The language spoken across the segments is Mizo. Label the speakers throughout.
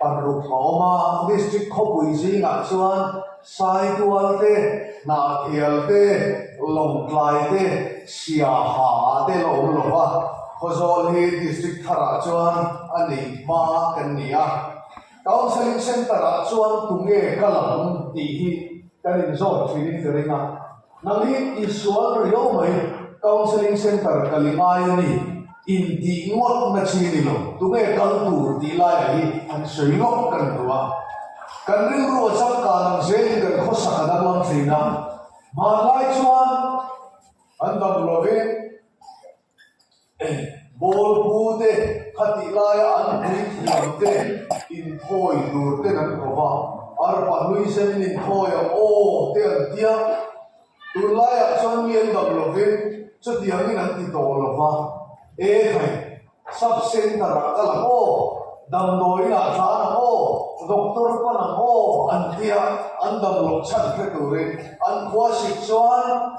Speaker 1: Paruk Hlawma district khawpui zingah chuan Saitual te, Hnahthial te, Lawngtlai te, Siaha te la awm lo va, Khawzawl hi district tharah chuan a neih hma kan ni a. Counselling centre-ah chuan tunge ka lang tih hi kan inzawt thin in ka ring a. Nalin insual riau mai counselling centre ka lingai a ni, intih ngawt na chi ni lo, tunge kal tur tih laiah hi an sawi lawk ka ni lo a. Kan rilru a changkang ang zelin kan khawsak a danglam thin a, hmanlai chuan an dam lovin Bawlbu te khatih laia an puithiam te inthawi tur ten an ko va, arpa nuisen an inthawi a aw te an ti a, tun laiah chuan mi an dam lovin chutiangin an ti tawh lo va, e hei sub centre ah ka la aw, damdawiin ah tlan ang aw, doctor pan ang aw an tia an damlo chhan hre turin an khualsik chuan.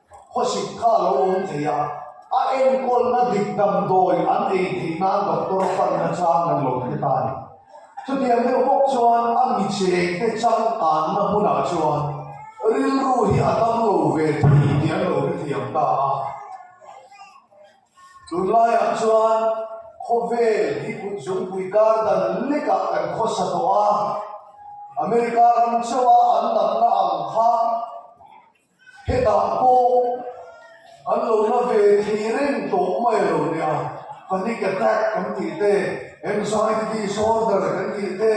Speaker 1: Khawsit kha a lo awm thei a, a enkawlna dik damdawi an ei theih nan doctor fanna chang an lo hre ta ni. Chutiang deuh bawk chuan a michete changkanna hmunah chuan rilru hi a tam lo ve thei tih an lo hre thiam ta a. Tunlaiah chuan khawvel hi kutzungpui kar dan lekah kan khawsa tawh a, America ram chauha an damna ang kha, Hetah pawh an lo la ve thei reng tawh mai lo nia, panic attack kan tih te, anxiety disorder kan tih te,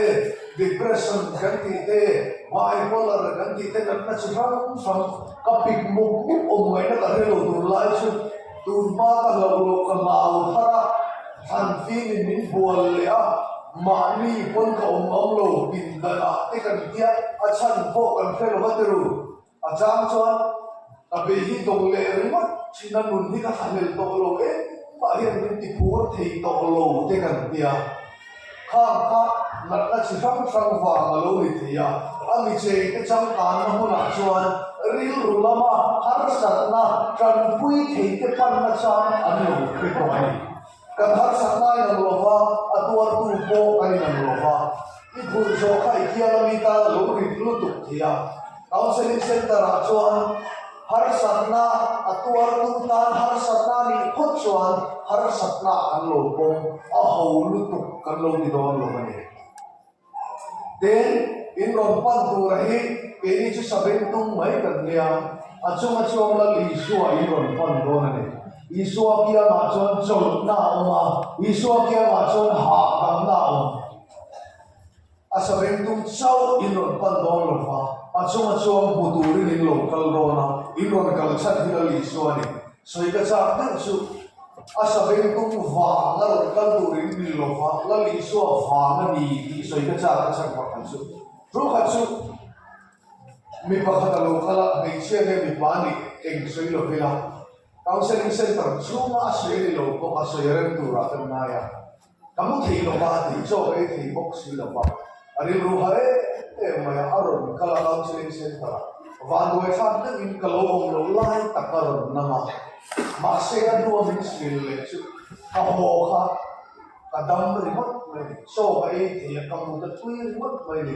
Speaker 1: depression kan tih te, bipolar kan tih te kan hre chi hrang hrang. Ka pik muk muk awm ngaihna ka hre lo tur lai chu tun pa ka hloh loh ka hlau thar a, hlan fim in min bual leh a, mahni pawn ka awm ang lo, pindanah te kan tia a chhan pawh kan hre lo va tel. A chang chuan ka be hi dawng leh ringawt thin a nun hi ka thlahnel tawh lo e, khua hian min ti phur thei tawh lo te kan ti a, khang kha natna chi hrang hrang vang a lo ni thei a, a mi chei te changkanna hunah chuan rilru lama harsatna tanpui thei te panna chang an lo hre tawh a ni. Ka darsak nai lam lova, a tuartu pawh a ni lam lova, i phurh zawh kha i thiang a mi ta lo ring lutuk thei a. Counselling Centre ah chuan harsatna a tuartu tan harsatna nih phawt chuan harsatna ah kan lo pawm a ho lutuk kan lo ti dawn lo a ni. Tin, in rawn pan tura hi keini chu saber tum mai kan nia, a chunga chuang lal Isua in rawn pan dawn a ni. Isua kiangah chuan chawlhna a awm a, Isua kiangah chuan hahdamna a awm. A saber tum chauh in rawn pan dawn lo va, a chunga chuang hmu turin in lo kal dawn a, in rawn kalchhan hi lal Isua a ni. Sawi ka chak deuh chu a saveng tum vang la rawn kal turin ni lova la lih suah vang a ni tih sawi ka chak a chhan pakhat chu thu kha chu mi pakhat a lo kal a hmeichhia nge mipa a nih eng sawi lo vela counselling centre chhunga a sawi a ni lo bawk a sawi a rem tur ah ka ngai a. Ka mu thei lo va, tih chaw ka i thei bawk si lo va, a rilru ha em em mai a, a rawn kal a, counselling centre ah vanduai thlak deuhin ka lo awm loh lai tak a rawn nam a, mahse a hnuam in sbil leh chu ka haw kha ka dam ringawt mai, chaw ka ei thei a, ka mut a tui ringawt mai ni.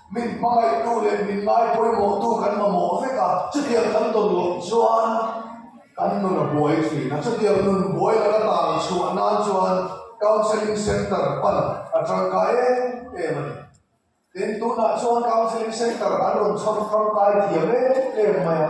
Speaker 1: Min hmangaihtu leh min ngaipawimawhtu kan mamawh vek a, chutiang kan dawn lawmh chuan kan nun a buai thin a. Chutiang nun buai la ka tang chhuah nan chuan Counselling Centre pan a tangkai em em a ni. Tin, tunah chuan Counselling Centre an rawn chhawt tangkai thiam em em mai a.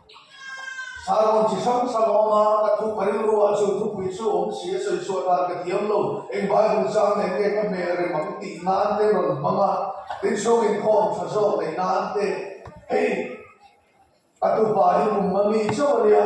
Speaker 1: Sarawng chi hrang hrang a awm a, ka thu ka rilru ah chu thupui chu awm si a sawi chhuah dan ka ti ang lo. Eng Bible chang nen nge ka hmel rem ang tih nan te rawn hmang a, tin hrong in khaw ang tha zawk nei nan te. Hei ka tupa hi kum mami chauh a nia.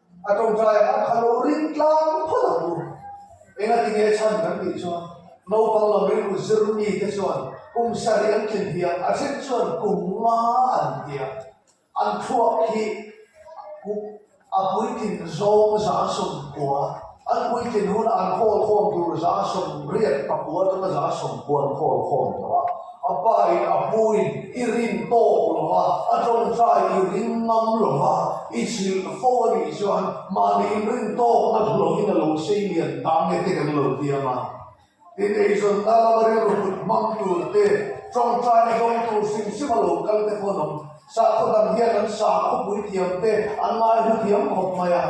Speaker 1: A tawngtai ah kha lo ring tlang phawt ang u. Engati nge chhan kan tih chuan naupang lo rilru zir mi te chuan kum sarih an tli hliam a then chuan kum nga an tia an thluak khi a puitling zawng za sawm kua. An puitling hun an khawl khawm tur za sawm riat a pu a tuna za sawm pu an khawl khawm tawh a, a pa in a pu in i rin tawk lo va, a tawngtai i rin ngam lo va, i chilh fo a nih chuan mahni in rin tawkna hnu lovin a lo sei lian ta nge te kan lo tiam a. Ineizawnna lama rilrukut hmang tur te, tawngtai a zawng tur sim sima lo kal te pawh an awm. Sakhaw dang hian an sakhaw pui thiam te, an ngai hmu thiam khawp mai a.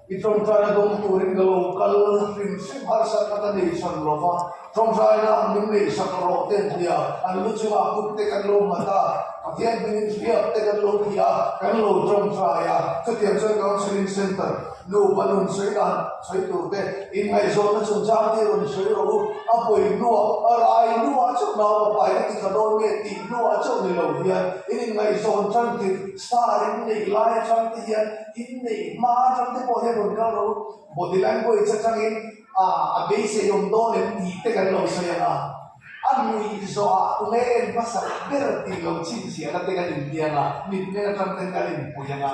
Speaker 1: I tawngtai a zawng turin ka lo kal hrim hrim harsa kha ka nei chhan lo va. Tawngtaina an min neih sak rawh te an ti a, an lu chunga kut te kan lo mat a, Pathian hmingin hriat te kan lo ti a, kan lo tawngtai a, chutiang chuan counselling centre, Nu paw nun sawi dan sawi tur te inngaihzawhna chung chang te rawn sawi ro u, a pawi hnuah, a rai hnuah chuh nau a pai ka ti kha dawn nge tih hnuah chauh ni lo hian in inngaihzawn chang tir star in neih lai atang te hian in neih hma atang te pawh hian rawn kal ro u, body language atangin aah a beiseiawm dawn em tih te kan lo sawi ang a, a nuih zawh ah tunge en hmasak ber tih lo chhinchhiahna te kan intiang a, mitmeng atang ten kan inpui ang a.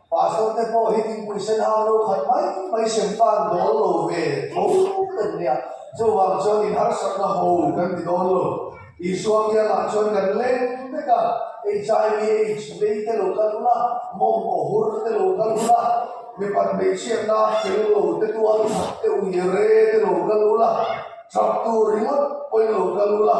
Speaker 1: Pa zawk te pawh hi thingpui sen hau lo khat mai mai sem pan dawl lo ve tho kan nia. Chuvang chuan inharsatna haw kan ti dawn lo. Isua bialah chuan kan leng vek a, HIV aids vei te lo kal hul a, mawng pawh hur te lo kal hul a, mipat hmeichhia nak fel lo te tual chhak te ui re te lo kal hul a, ṭhaktu ringawt pawhin lo kal hul a.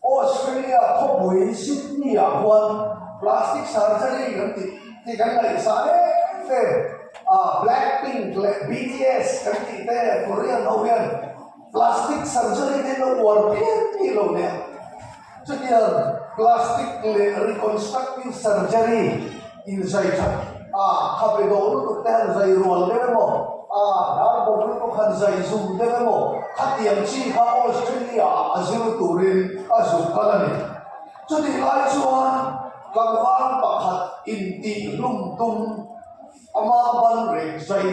Speaker 1: Australia khawpui Sydney-ah khuan plastic surgery kan tih tih kan la in sa hle hle a, Blackpink leh BTS kan tih te Korean ho hian plastic surgery te an lo uar phian phih lo nia. Chutiang plastic leh reconstructive surgery. Inzai that a kha pe deuh lutuk te han zai rual deuh em aw? A dar bawk lutuk han zai zum deuh em aw? Khatiang chi kha Australia ah a zir turin a zuk kal a ni. Chutih lai chuan karvan pakhat intihhlum tum amah banrek zai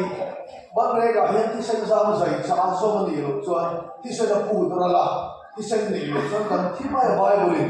Speaker 1: banrek ah hian thisen zam zai caah zawm a nih loh chuan thisen a phut ral a, thisen neih loh chuan kan thi mai a Bible in.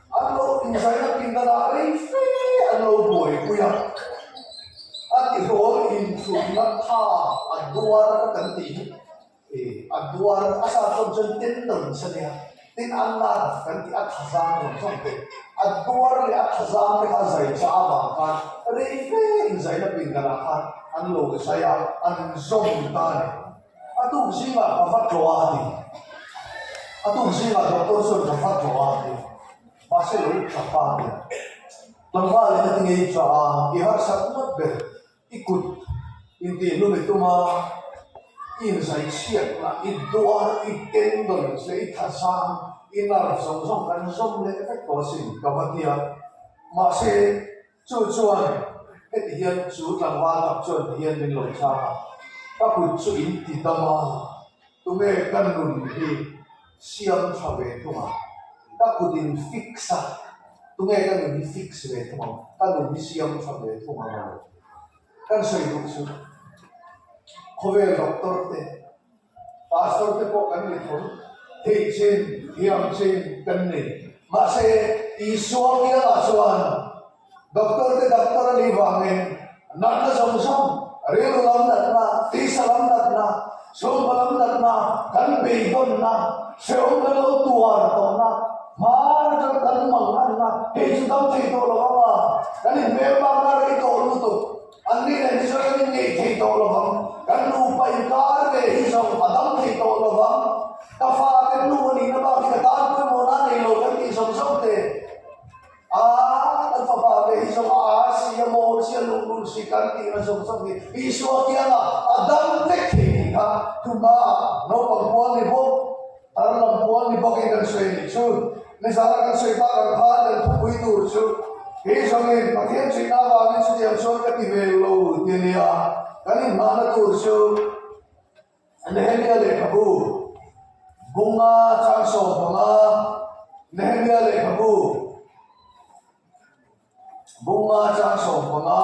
Speaker 1: An rawk insaihna pinna dah rei fe an lo buaipui a, a tihawl inchhunna tha a duar ka kan tih hi e a duar a sa thawm chuan tin lo insa nia tin an la rak kan tih a thazang thawm thawm te a duar leh a thazang te kha zai chah avang khan rei fe inzaihna pinna lah khan an lo zai a an zawm ta nen. A tum zingah ka va tlaw a, a ti. A tum zingah doctor chuan ka va tlaw a, a ti. Mahse lo uk tha pah le. Tlangvalin a ti ngei tla a, i harsat ngawt ber, i kut, intih lum i tum a, i inzai chhiat na, i duar, i teng dawn tle, i thazang, i nar zawng zawng kan zawm leh vek tawh asin, ka va ti a. Mahse. Chu chuan heti hian chu tlangval tak chuan ti hian min lo chak a, ka kut chu in ti dam a, tunge ka nun hi siam tha ve thung a, ka kut in fix a, tunge ka nun hi fix ve thung ang, ka nun hi siam tha ve thung ang emaw? Kan sawi duh chu khawvel doctor te Pastor te pawh kan ni thawm theih chin thiam chin kan ni. Mahse Isua kiangah chuan Doctor te Doctor a nih vangin natna zawng zawng, rilru lam natna, tisa lam natna, chhungkaw lam natna, kan beidawnna, hrehawm kan lo tuar tawhna, hmar atang kan mangnganna hei chu dam thei tawh lo anga kan inbel bakna rei tawh lutuk. An ni nen chu kan inngeih thei tawh lo vang, kan nupa inkar ve hi zo a dam thei tawh lo vang. Ka fa te hnu a nihna bak hi ka tan pawimawh nan nei lo kan tih zawk zawk te. Aaa, kan fapa ve hi zo a ar si a maw, chian lung run si kan tihna zawk zawk hi Isua kiangah a dam vek thei tih kha tuma naupang bual ni bawk. An lam puan ni bawkin an sawi nih chu nizan a kan sawi bak ang kha a tel thupui tur chu hi zawngin Pathian chuihna avangin chutiang chuan ka ti ve lo ti nia kan inhmahna tur chu Nehemiah lehkhabu bunga chang sawm hmanga Nehemiah lehkhabu bunga chang sawm hmanga.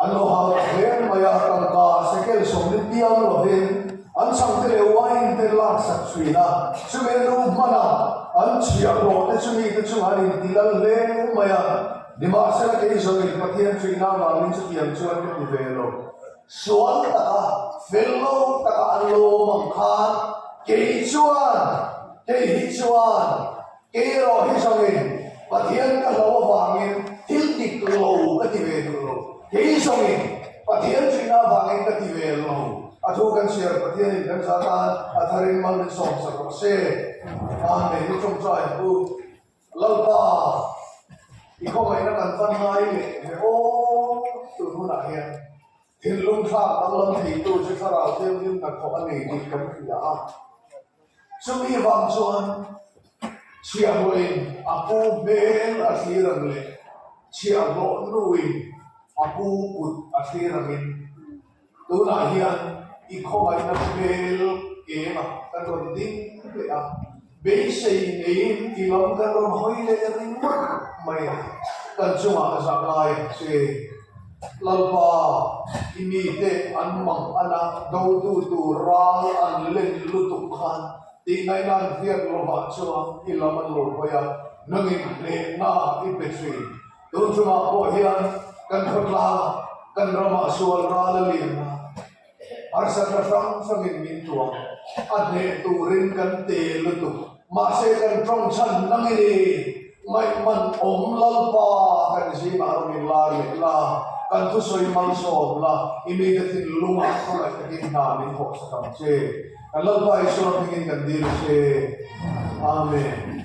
Speaker 1: A lo hau ta hle mai a, tangka sekel sawm ni piau lovin an chhang te leh uai in te lak sak chhuin a, chumi a duh hman a, an chhiah hlawh te chu mite chungah an inti lal hle ngawh mai a, nimahsela kei zawng in Pathian chhuihna avangin chutiang chu an hmu ve lo. Sual taka, fel lo taka an lo awm ang khan kei chuan, kei hi chuan. Erawh hi zong in Pathian ka hlo avangin thil dik lo ka ti ve duh lo. Kei zong in Pathian ṭihnah avangin ka ti ve lo. A thu kan chhiar Pathian in kan za tan a thar in mal in sawm chak rawh se. Tan nei hi ṭawngṭai a pu. Lalpa, i khawngaihna kan va ngai leh ve awk tur hunah hian thinlung thlak danglam theitu chi thlarau thianghlimna thawh a nei tih kan hria a. Chumi vang chuan Chhiahmawhin a pu hmel a thlir ang leh Chhiahmawhnu in a pu kut a thlir ang in tunah hian i khawvaina hmel kengah kan rawn ding leh a. Beisei neiin i lam kan rawn hawi leh ringawt mai a, kan chungah a zahngai ang che. Lalpa i mite an mang a na dotu tur ram i an len lutuk khan tihngaih nan fiak lovah chuan i lam an lo hawi a, nangin hnehna i pe thin. Tunchungah pawh hian kan khawtlang kan ramah sual ral a liam a. Harsa ta hrang hrangin min tuam a hneh turin kan te lutuk. Mahse kan ṭawngchhan na nge ni? Ngaihman awm lalpa kan zingah rawh min la riak la, kan thusawi mal sawm la, i mite thinlung ah khawlaih takin hna min thawh sa ṭang che. Kan Lalpa Isua hmingin kan dil che. Amen.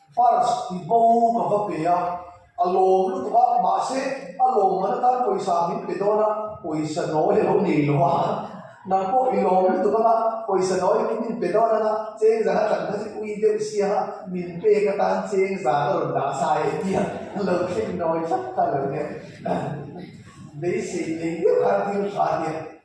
Speaker 1: Fars tih bo ka va pe a, a lawm lutuk a, mahse a lawm man atan pawisa min pe dawn a, pawisa nawi a lo nei lo a, nang pawh i lawm lutuk anga pawisa nawi ki min pe dawn anga chengzan a tlan kha chu ui deuh sia a, min pek atan chengzan a rawn dah sa e tia a lo thleng nawi tlat kha lo nia, beisei nei deuh kha a thil hra nia.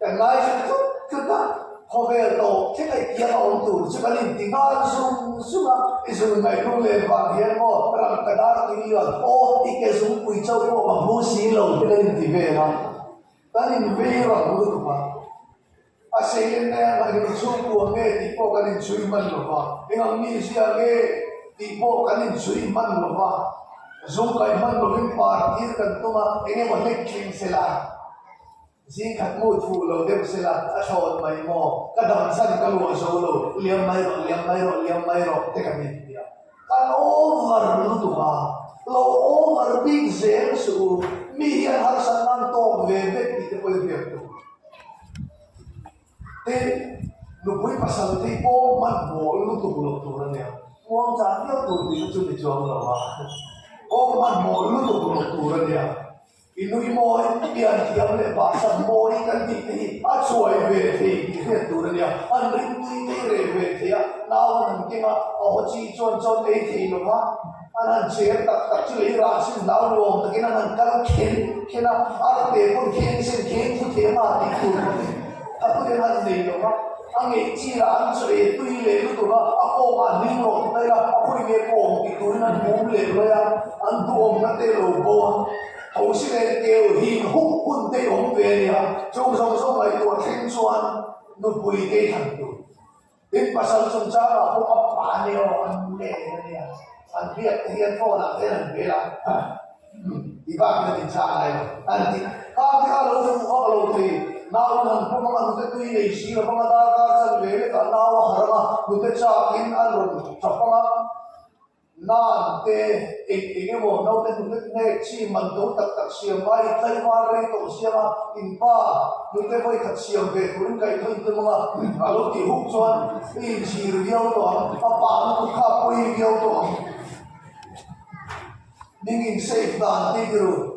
Speaker 1: Kan ngaihtuah tut tut a, khawvel tawh thlengei tiang a awm tur chu kan inti nghal zung zung a, i zul ngaih rung leh vang hian maw rang ka dar tih i luan, aw i ke zungpui chauh pawh ka hmu si lo te kan inti vel a, kan invei rang lutuk a, a seiin nge ka hei chhung ku ang nge tih pawh kan inchhui hman lo va, eng ang mi zia ang nge tih pawh kan inchhui hman lo va, zung kaih hman lovin par tir kan tum a, eng emaw hnek tling sela. Zing khat hmuh thuh lo deuh se la, a thlawt mai maw? Ka dam chan ka luah zo lo, liam mai rawh, liam mai rawh, liam mai rawh te ka ni ti a. Kan over lutuk a, lo over bik zel suh u, mi hi an harsat nan tawk ve vek tih te pawh i hriat duh. Te nupui pasal te pawh hmanhmawh lutuk lo tur a nia, muang tlan viau tur tihna chu ni chuang lo a, pawh hmanhmawh lutuk lo tur a nia. I nui maw i piantiam leh bahsan maw i kan tih te hi a chuai ve thei tih hriat tur a nia. Han ringtui ngei reh ve thei a, nau nun keng a a haw chi chuan chawn ei thei lo va, an han cher tak tak chu lei ran sin hlau nuam takin an han kal khen khen a, a la pe pawn kheng sen kheng thu thei a nga tih tur ka hmu. A pu te han nei lo va, a ngeih chiahah an chaw e tui leh lutuk a, a kawngah an hing rawh ta ila, a pawi nge pawng tih turin an hmum leh luai a, an duhawmna te lo bo a, tho si nen keu hing huk hun te i awm ve a nia, chung zawng zawng ngaihtuah thleng chuan nupui te i thlan tur. Min pasal chungchang ah pawh a pa nge aw an mu leh leh a nia. An biak te hian phone ah hian an bel a, Huh. I bak hian in chah ngai lo an ti. Khang te kha a lo fuh vak lo thei. Nau an han pawm anga nute tui nei si lo vang a, darkar chhan ve lekah nau a harh anga nute chak in an rawn tha pang a. Nan te eng eng emaw naute hnute hnek chi man do tak tak siam vai in tlaihvar rei tawh siam a, in pa hnute vawi khat siam ve tur in kaih thawiin tlem anga a lo tih huk chuan i inchhir viau tawh ang, a pa na kut kha pawi viau tawh ang, ning in save dan tih tirhu.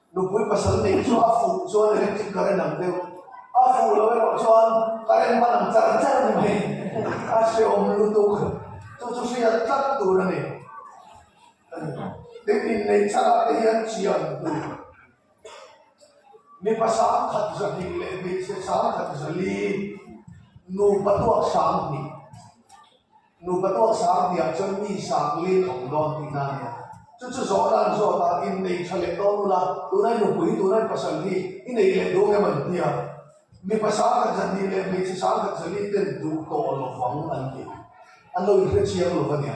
Speaker 1: Nupui pasal nei chu a fuh chuan electric ka relang deuh. A fuh loh erawh chuan ka rem hman ang char char mai. A hreawm lutuk. Chu chu hriat tlat tur a ni. Tin innei chhakah te hian chian tur. Mipa sangkhat zahnih leh hmeichhe sangkhat zali nupa tuaksam hnih Nupa tawh sang tiang chuan mi sang lin awm dawn tih na nia. Chu chu zawh nan zawt a in nei tha leh dawn nula, tunai nupui, tunai pasal hi i nei leh dawng em an ti a. Mipa sangkhat zahnih leh hmeichhe sangkhat zahnih ten duh tawh lovang an ti. An lo inhriat chiang lova nia.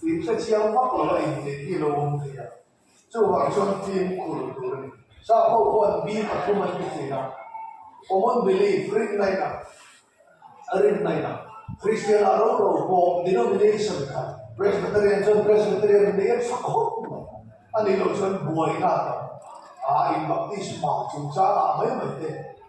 Speaker 1: Tui thlethiam vak lo a inneih hi lo awm theih a, chuvang chuan fim khur tur a ni. Hla ho huan bi pathum an ti theih a, common belief, rinnaina, a rinnaina, Kristiana roro pawh denomination khat, Presbyterian chuan Presbyterian inneih em sak hawk mai a nih loh chuan buaina a tam a, in Baptist hmang chungchangah mai mai te.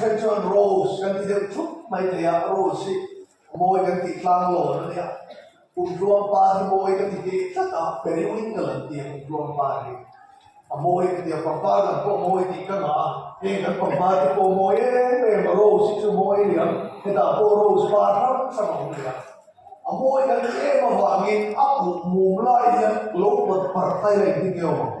Speaker 1: Hre chuan Rose kan ti deuh thup mai thei a, Rose hi Mawi kan tih tlang lawn a nia. Pumtluangpa hi Mawi ka ti teh tlat a, Periwin ka lan ti a Pumtluangpa hi a Mawi ka ti a, pangpar lam pawh Mawi tih ka ngah a, heng kan pangpar te pawh Mawi em em a, Rose hi chu Mawi a ni ang, hetah pawh Rose pa hrang hrang a awm leh a, a Mawi kan ti em avangin a pumh mum lai hian lo pawt par phai reng hi ni awm ang.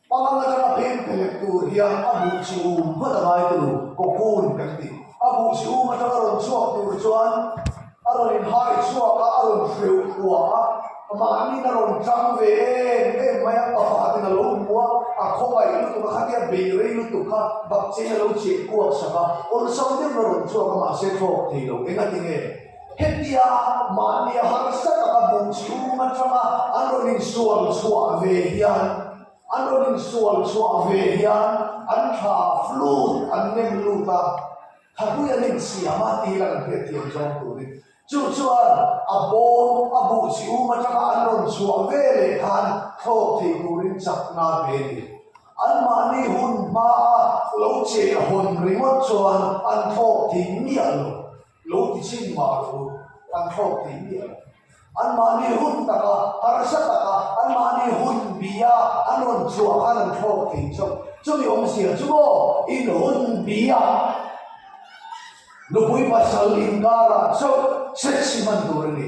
Speaker 1: Pangngai atanga a peng phelek tur hian a buh chhum phawt a ngai tur cocoon kan ti. A buh chhum atanga a rawn chhuak tur chuan a rawn inhai chhuak a, a rawn hreu thua a, mahniin a rawn tlang ve em em mai a, pakhatin a lo hmu a, a khawngaih lutuk a khatia bei rei lutuk kha bakchei a lo cheh kuak sak a, awlsam deuhna a rawn chhuak a mahse thlawk theilo engatinge? Hetia mahnia harsa taka duh chhung atanga an rawn insual chhuah ve hian an rawn insual chhuah ve hian an tha flut an nem lut a, Thapuia an insiam a tih hi lang hriat thiam zawng turin. Chu chuan a bawm a buh chhum atanga an rawn chhuah ve leh khan thlawk thei turin chak na ve a ni. An mahni hun hmaa lo cheh hawn ringawt chuan an thlawk thei miah lo. Lo ti chin mah lo an hlawk thei mi ang. An mahni hun tak a, harsa tak a, an mahni hun bia an rawn chuah khan an hlawk thei chauh. Chumi awm zia chu maw, in hun bia nupui pasal inkar ah chauh hre chhi hman tur a ni.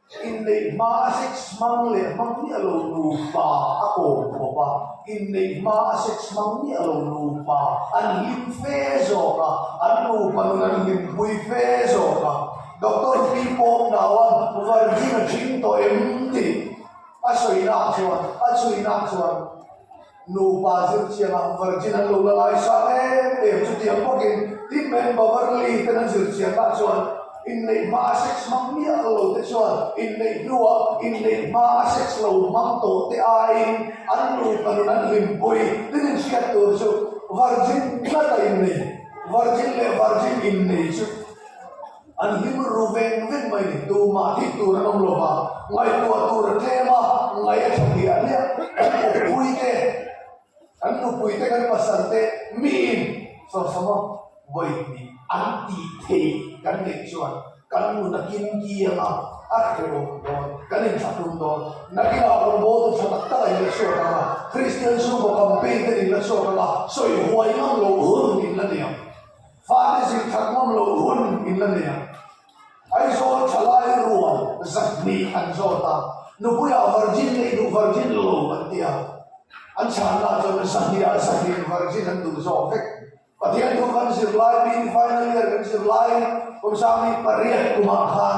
Speaker 1: Inneih hma a sex hmang leh hmang miah lo nupa a kawm khawp a, inneih hma a sex hmang miah lo nupa an hlim fe zawk a, an nupa nun an hlimpui fe zawk a, Doctor Pi Pawng nauan Vargin a hring tawh em? tih a sawinak chuan a chhuinak chuan. Nupa zir chianga Virgin an lo la ngai sa em em chu tiang bawkin tin men Beverly ten an zir chiang ah chuan inneih hmaa sex hmang miah lo lo te chuan inneih hnuah inneih hmaa sex lo hmang tawh te aiin an nupa nun an hlimpui tin inhriat tur chu Virgin tlat a innei Virgin leh Virgin innei chu. An hlim ru veng veng mai ni tu mah dik tur an awm lo va, ngaihtuah tur a tlem a, ngaih a tha tih a hliah. Kan upui te, kan nupui te, kan pasal te mi in Sawrsama vawi ni an tih theih kan neih chuan kan nu na kimki anga a hrehawm dawn, kan inthlatum dawn. Nakinah rawngbawl ru tha tak taka in la chhuak anga, Kristian chhungkaw campaign te nih la chhuak anga sawi huai ngam lo hun in la niam. Fate zir that ngam lo hun in la nei a, Aizawl thalai rual zat hnih an zawt a, Nupuia Virgin neih duh Virgin lo an ti a, an chhanna chuan Zahnia Zahin Virgin an duh zawk vek. Pathian thu kan zir lai, Pin Final Year kan zir lai, Kawmsangni pariat kum ah khan,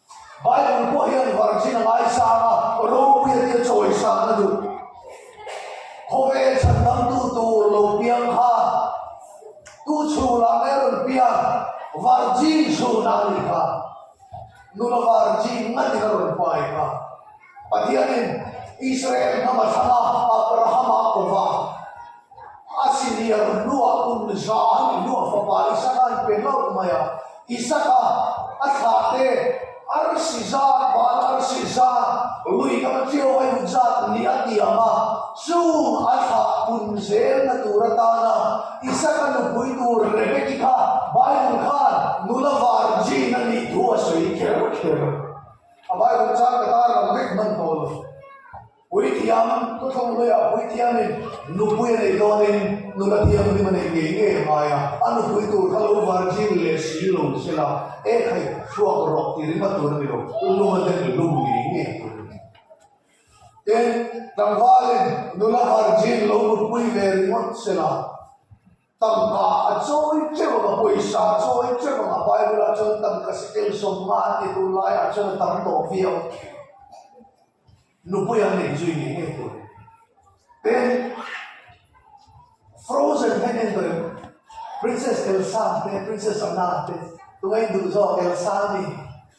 Speaker 1: Bible pawh hian Virgin a ngaisanga ropuia tia chawi san a duh. Khawvel chhan dangtu tur lo piang kha tu chhung ah mai a rawn piak, Virgin zun ah a ni kha. Nula Virgin ngat in a rawn pai kha. Pathianin Israel hnama thlanga Abrahama kova Assyria runlua um zan iluah fapa Isaka an pe hlauh mai a. Isaka a thla te arsi zat ban arsi zat rui lam cio a in zat ni a ti ang a. Chung a thla pun zelna tur atana Isaka nupui tur Rebekki kha Bible khan nula vargin a nih thu a sawi kher kher. A Bible chang ka tar lo mek hman pawl a si. Puithiam, Pu Thawnglawia puithiamin nupui a nei dawnin nula thiam hlim a nei ngei ngei a hmai a, a nupui tur kha lo virgin leh sil lo sia la, ekhei hruak rawh tih ringawt tur a ni lo, lum a den lum ngei ngei tur a ni. Tin, tlangvalin nula virgin lo nupui ve ringawt sia la, Tangka a chawi che vang a, pawisa a chawi che vang a, Bible ah chuan tangka si tel sawm nga a ti tur lai ah chuan a tam tawh viau thin. Nupui an nei chu i nei ngei tur. Pen Frozen he nen dawi em? Princess Elsa te, Princess Anna te, tunga in duh zawk Elsa a ni.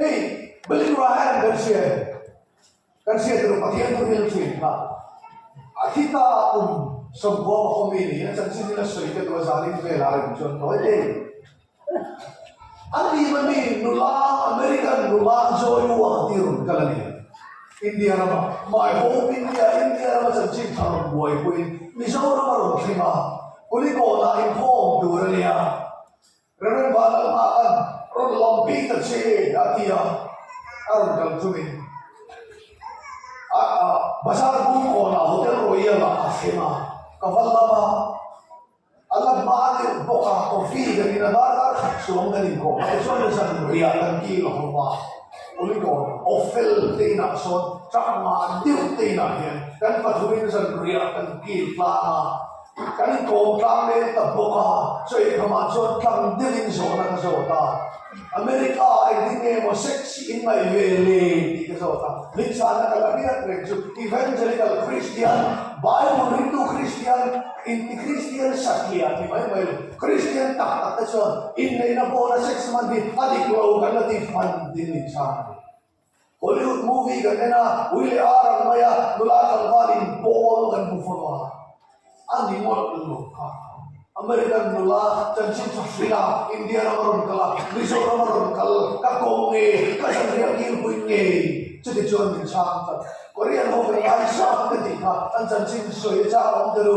Speaker 1: Hei, building ruah hian kan hriat, kan hriat erawh Pathian tu hian a thian kha. A thi ta a awm sawmpua ka haw mi ni a chanchin in a sawi ka duh a zanin vel a reng chuan nawi lei an nih mah ni nula American nula Joy Ua ka ti run kal a ni India rama my home India India rama chanchin thla rawn buai pui in Mizoram a rawn thleng a Kulikawn ah inkhawm tur a nia Renglam vah dang hma khan rawn lam bik ta che a ti a, a rawn kal chu min ah bazar bung kawnah Hotel Royal ah a thleng a, ka va lam a, a lam hma a tirh bawk a, coffee kan in a var var khat chuang kan in kawh hmate chuan zan riah kan kil a hawm a, uli dawn aw fel te inah sawn chakma a dirh te inah hian kan pathumin zan riah kan kil tlang a, Kan kawngtlang leh tak bawk a, chaw inham ah chuan tlang deuh in zawh nan zawt a, America ah i ding nge maw sexy in ngaih ve le tih ka zawt a, min chhan a ka la riat reng chu evangelical Kristian, Bible rintu Kristian inti Kristian satliah ni mai mai lo, Kristian tak tak te chuan inneihna pawn a sex hman hi a dik lo kan la tih hman tiin min chhan a ni. Hollywood movie kan en a, ui leh a rang mai a, nula tlangval in bawm kan hmu fo lo a, a ni ngawt lo lo kha. American nula chanchin tha hring a, India ram a rawn kal a, Mizoram a rawn kal, ka kawng nge, ka zanriah kir puin nge, chuti chuan min chhang tak. Korean ho velngai hrang te tih kha an chanchin sawi a chak awm ta lu.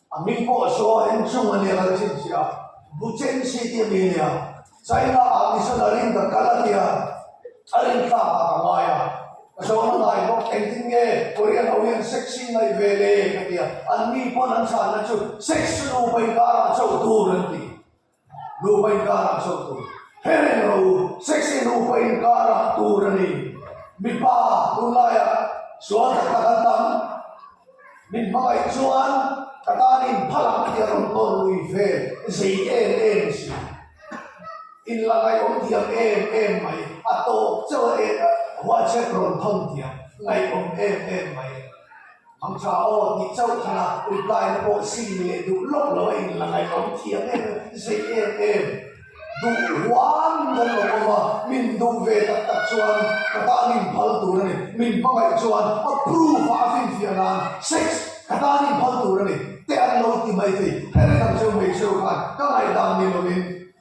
Speaker 1: A min pawh saw en chung a nia ka chim si a, bu chen si tih a ni a nia. China ah mission a rin ka kal a nia, a rin tlak ah ka ngai a, ka saw na ngai bawk, engtin nge Korean ho hian sexy ngaih ve le ka ti a, an mi pawn an chhanna chu sexy nu pa inkar ah chauh tur an ti. Nupa inkar a zawk tur he renglo u, sexy nupa inkar a tur a ni. Mipa tunlaia sual tak tak an tam. Min hmangaih chuan ka tanin phalak tih a rawn tawn lui ve zei em em a si. In la ngaihawm diam em em mai, a tawk chauh a huachep rawn thawn diam ngaihawm em em mai. Ang cha aw, tih chauh thana replyn a pawh sin ni leh duh lawk lo a in la ngaih awm thiam em zai em em. Duh huam kan awm awm a, min duh ve tak tak chuan ka tan in phal tur a ni, min hmangaih chuan approve a a finfiah nan sex ka tan in phal tur a ni te an lo ti mai thei, heng dang cheu mai cheu khan ka ngaih dan ni lo in.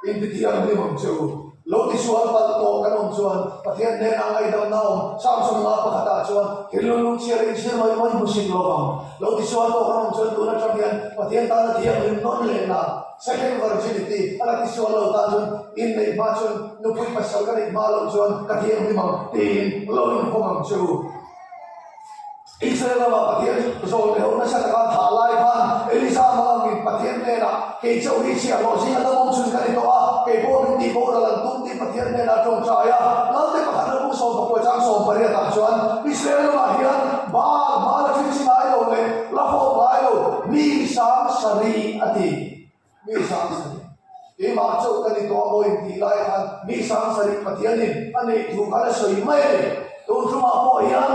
Speaker 1: Intitiang hnim chu lo ti sual palh tawh kan awm chuan Pathian hnena ngaidamna awm chang chu nanga pakhatah chuan thil lunglung chhiara inchhir mai mai hmu sik lo vang lo ti sual tawh kan awm chuan tun atang hian Pathian tana thianghlim nawn lehna second virginity a la ti sual lo tan chuan in neih hma chuan nupui pasal ka neih hma loh chuan ka thianghlim ang tiin lo inkhawm ang chu. Israel lama Pathian zawn leh ho nasa taka tha lai khan Elisa hmanga min Pathian hnena, Kei chauh hi chhiah hlawh zing a la mawng chhun ka ni tawh a, kei pawh min tih boh ral an tum tih Pathian hnena tawngtai a. Ngalte pakhat lutuk sawmpa kuachang sawm pariat ah chuan Israel lamah hian Baal hmala thil chi ngai lo leh la hawk ngai lo mi sang sarih a ti. Mi sang sarih. Keimah chauh ka ni tawh a maw intih lai khan mi sang sarih Pathianin a neih tur khan a sawi mai a ni. Tutlumah pawh hian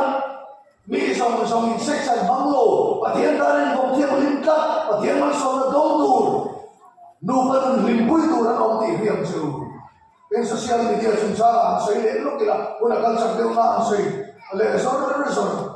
Speaker 1: mi zawng zawng in section hmang lo, Pathian tan in bawm thiang hlim tlat, Pathian malsawmna dawng tur, nupa nun hlimpui tur an awm tih hliam che u. Tin, social media chungchangah han sawi leh lawk ila huna kal chak deuh nga han sawi leh zawrh zawrh.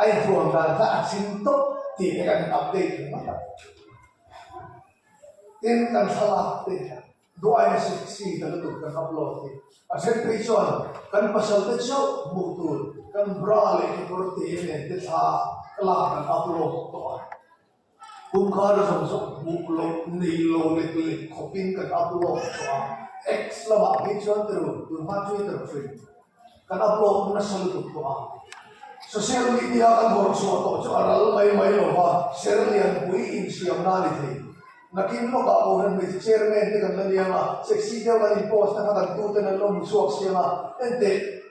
Speaker 1: A inthuam dan kha a chim tawp tih kha kan update thei mai a, tin kan thlalak te hian duai a si si ka lutuk ka ngap lo tih a then phei chuan kan pasalte chauh hmuh tur kan bra leh kekawr te nen te thla ka lak kan upload tawh a. Pumkhar zawng zawng hmuh loh nei lo lek lek khawp in kan upload chhuah a, X lamah hi chuan tirun tunhma Twitter ṭhin kan upload nasa lutuk tawh a, social media kan haw chhuah tawh chu a ral mai mai lo va, serlianpui insiamna a ni thei, nakin lawkah Kohhran hmeichhe chairman te kan la niang a, sexy deuh kan in post nakha kan tute nan lo hmu chhuak siam a, enteh.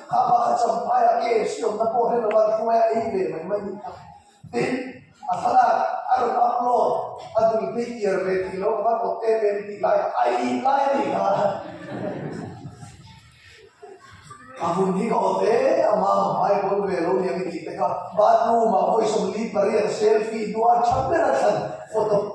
Speaker 1: Kha pa kha cham phai a kei a si awmna pawh hre lo a ti hnuaia a in ve mai mai ni kha tin a thlalak a rawn upload a dul phei tiar ve tih lo ka rawt em em tih lai a i ih lai a ni kha a hun hi ka awt ea mama hmai pawl ve lo niang i ti teka bathroom ah vawisawm li pariat selfie hnuah a tha ber a thlan photo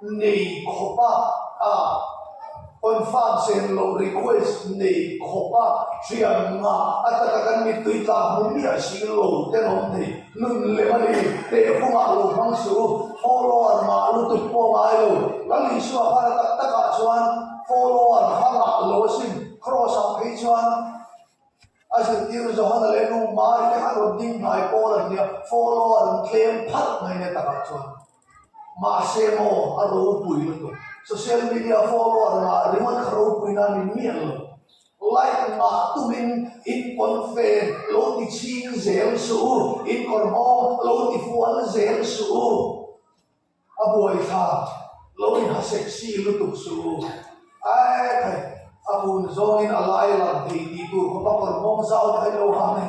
Speaker 1: nei khawpa a confirm cheng lo request nei khawpa hriat nga a taka kan mit tui tlak hmu miah a si lo te lawm thei nun lem a ni teh khuma lo hmang chu follower mah lutuk pawh ngai lo lal isua hara tak tak ah chuan follower ha mah lo a sin cross ang phei chuan a zirtir zawh han leh nu mari te han rawn ding hnai pawn an nia follower an tlem pharh mai nia takah chuan. Mahse maw a ropui lutuk? Social media follower mah ringawt kha ropui nan min mian lo. Like mah tumin in pawn fe lo ti chhing zel suh u, in kawr bawm lo ti fual zel suh u. A buai kha lo in ha sexy lutuk suh u. Ae khai, a hun zawngin a lai lang thei ti tur khawpa kawr bawm zau kha i lo hang e.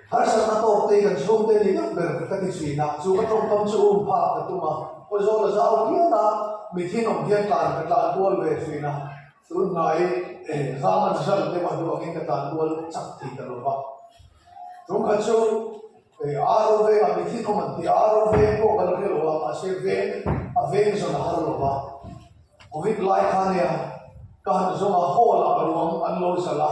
Speaker 1: Harsatna tawkte kan chhungte ni deuh ber ka ti chin a, chu ka tawngkam chu um phak ka tum a, pawh zawl a zau hial a, mithin awm hian tlan ka tlan kual ve chin a, tun hnai zama result deuh a hnu angin ka tlan kual chak thei ta lo va. Chung kha chu Aro vengah mithin awm an ti a, Aro veng pawh kan hre lo a, mahse veng a veng zawna a har lo va. Covid lai khan nia ka han zawng a, hall ah ruang an lo zal a,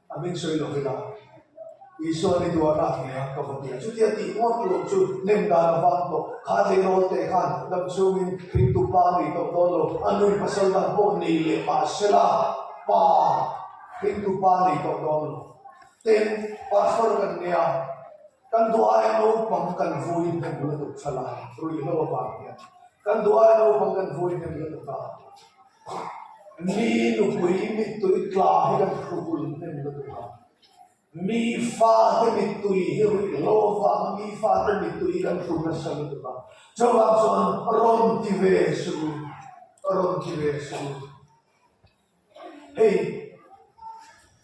Speaker 1: A min sawi lo vek a, Isua ni duh a rak hme a, ka va bia. Chuti a tih ngawt tur chu nem dan a vang tawh. Kha tlei rawl teh khan lam chhungin thing tum pa a nih tawh dawn lo. A nui pasal dang pawh nei leh pah se la, pa, thing tum pa a nih tawh dawn lo. Ten, Pastor kan nia, kan duhaiah naupang kan vui hnem lutuk ṭha la, ruih lo avang hian kan duhaiah naupang kan vui hnem lutuk a. mi nupui mittui tla hi an hru vul hnem lutuk a, mi fate mittui hi ruih lo vanga mi fate mittui hi kan hru nasa lutuk a, chuvang chuan rawn ti ve chu, rawn ti ve chu hei.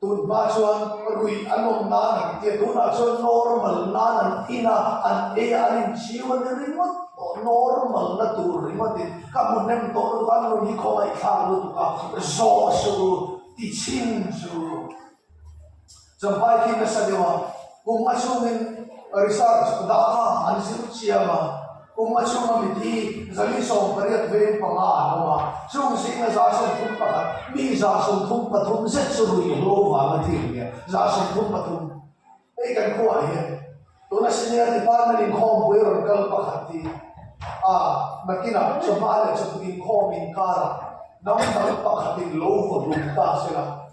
Speaker 1: Tun hma chuan ruih an awm nan ang tia tunah chuan normal nan an in a, an ei a, an inchiu a ni ringawt tawh normal na tur ringawt in ka hmu hnem tawh lutuk a an rawn ni khawmai thlak lutuk a zaw su ti chhin chu chuan pai khi nasa deuh a kum a chungin research data an zir chiam a. Kum a chunga miti zali sawm pariat veng panga an awm a, chung zingah zahsawm thum pakhat, mi zahsawm thum pathum zet chu rui eng lo vanga thil a nia, zahsawm thum pathum. Hei kan khuaah hian tuna Senior Department inkhawm buairawn kal pakhat hi a nakinah chawhma leh chawhput inkhawm inkara dang dang pakhatin lo vaw dum ta zel a,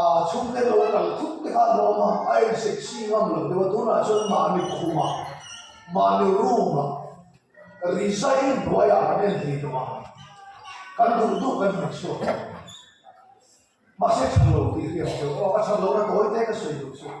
Speaker 1: A chhung te lo kal thup te kha a lo awm a, a en sexy ngam lo deuh a, tunah chuan mahni khuma, mahni room a, rizain hnuaiah kan en thei tawh a, kan duh duh kan hmu chhuak lo, mahse chhang lo tih ka rian teuh, aw ka chhang lo, ka tawi te ka sawi duh chhuak.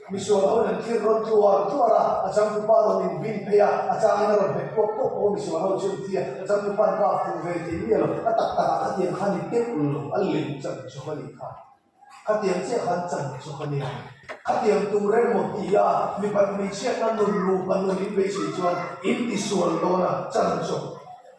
Speaker 1: Misual ho lem thil rawn tuar tuar a, a changtu pa rawn in bing phei a, a chang in a rawn hek puak puak bawk a misual ho chu entia a changtu pan kap fuh ve thei miah lo, a tak tak ah khatiang khan i tep ulh lo, a lem chan chawk a ni kha, khatiang chiah khan chan chawk a nia, khatiang tur emaw ti a, mipat hmeichhiatna nun lupa nun in beisei chuan in ti sual dawn a, chan chawk.